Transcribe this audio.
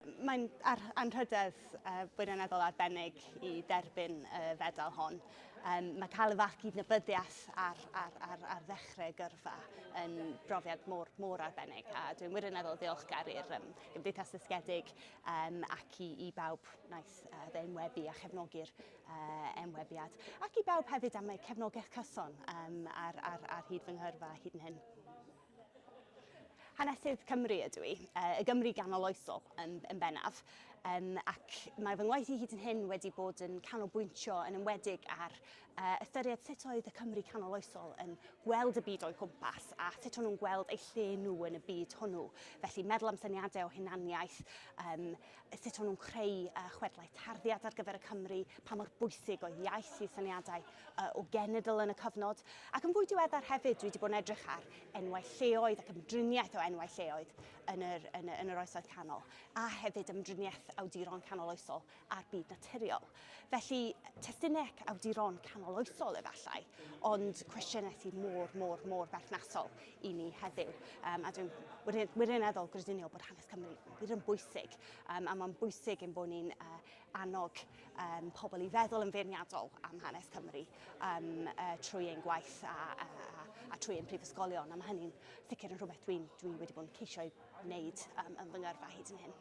Mae'n anrhydedd wirioneddol arbennig i dderbyn y fedal hon. Mae cael y fath gydnabyddiaeth ar, ar, ar, ar ddechrau gyrfa yn brofiad mor, mor arbennig a dwi'n wirioneddol ddiolchgar i'r um, Gymdeithas Ddysgedig um, ac i, i bawb wnaeth uh, fe enwebu a chefnogi'r uh, enwebiad ac i bawb hefyd am eu cefnogaeth cyson um, ar, ar, ar hyd fy nghyrfa hyd yn hyn. Hanesydd Cymru ydw i, y Gymru ganoloesol yn, yn bennaf, um, ac mae fy ngwaith i hyd yn hyn wedi bod yn canolbwyntio yn ymwedig ar uh, ystyried sut oedd y Cymru canoloesol yn gweld y byd o'i gwmpas a sut o'n nhw'n gweld eu lle nhw yn y byd hwnnw. Felly meddwl am syniadau o hunaniaeth, um, sut o'n nhw'n creu uh, chwedlau tarddiad ar gyfer y Cymry, pa mor bwysig oedd iaith i syniadau uh, o genedl yn y cyfnod, ac yn fwy diweddar hefyd dwi wedi bod yn edrych ar enwau lleoedd ac ymdriniaeth o enwau lleoedd yn yr, yn, yn yr oesoedd canol, a hefyd ymdriniaeth awduron canoloesol a'r byd naturiol. Felly, testunec awduron canoloesol efallai, ond cwestiynau sydd mor, mor, mor berthnasol i ni heddiw. Um, a dwi'n wirioneddol grediniol bod hanes Cymru wir yn bwysig, um, a mae'n bwysig yn bod ni'n uh, annog um, pobl i feddwl yn feirniadol am hanes Cymru um, uh, trwy ein gwaith a, a, a, a trwy ein prifysgolion, a mae hynny'n sicr yn rhywbeth dwi'n dwi wedi bod yn ceisio ei wneud um, yn fy ngyrfa hyd yn hyn.